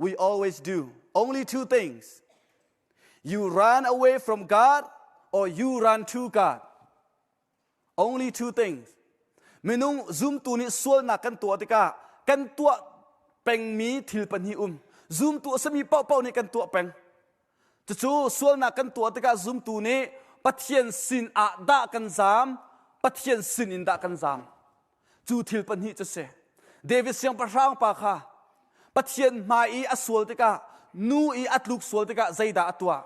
We always do only two things you run away from God or you run to God. Only two things. Minung zumtu nih sualnak kan tuah tikah kan tuah pengmi thil pahnih um. Zumtu a sami paohpaoh nih kan tuah peng. Cucu sualnak kan tuah tikah zumtu nih Pathian sin ah dah kan zam, Pathian sin in dah kan zam. cu thil pahnih cu si David siangpahrang pa kha Pathian hmai i a sual tikah nu i a tluk sual tikah zeidah a tuah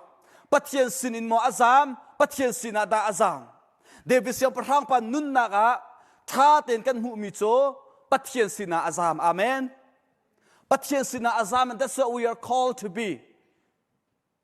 Pathian sinin maw a zaam Pathian sinah dah a zaam David siangpahrang pa nunnak ah ṭha tein kan hmuhmi cu Pathian sinah a zaam amen Pathian sinah a zaam and that's what we are called to be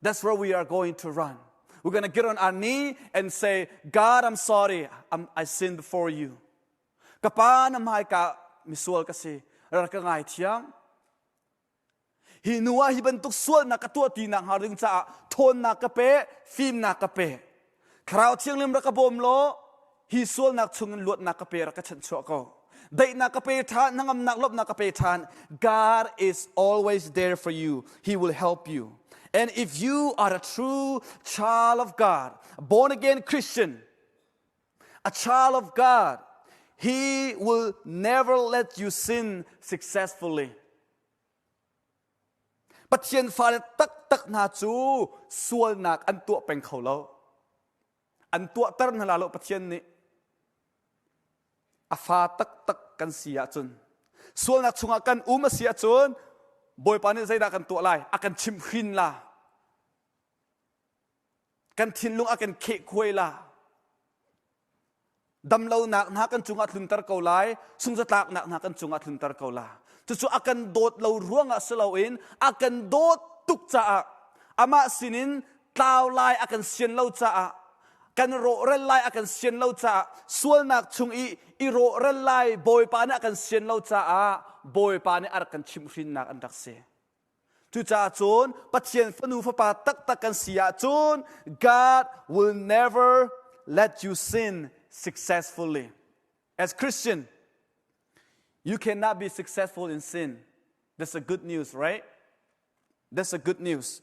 That's where we are going to run. We're going to get on our knee and say, God, I'm sorry. I'm, I sinned before you. Ka pa na hmai ka misual kasi. Rar ka ngai thiam. Hi nu ah hi bantuk sual na ka tuah ti nak har ding caah thawn na ka pe, fim na ka pe. Thlarau thianghlim rak ka bawm law hi sualnak chungin luatnak ka pe rak ka chanh chuah ko. Daihnak ka pe ṭhan, hnangamnak lawmhnak ka pe ṭhan. God is always there for you. He will help you. And if you are a true child of God, born again Christian, a child of God, He will never let you sin successfully. Pathian fale taktak hna cu sualnak an tuah peng kho lo. An tuahter hna la lo Pathian nih. A fa taktak kan si ahcun, sualnak chungah kan um a si ahcun, Bawipa nih zeidah kan tuah lai? A kan chimhhrin la. kan thinlung a kan kheh khuai la damlonak hna kan cungah tlunter ko lai sunzatlaknak hna kan cungah tlunter ko la cucu a kan dawt lo ruangah si loin a kan dawt tuk caah amah sinin tlau lai a kan sian lo caah kan rawhrel lai a kan sian lo caah sualnak chung i i rawhrel lai bawipa nih a kan sian lo caah bawipa nih a rak kan chimhrinnak an rak si Cucaah cun Pathian fanu fapa taktak kan si ahcun God will never let you sin successfully. As Christian, you cannot be successful in sin. That's a good news, right? That's a good news.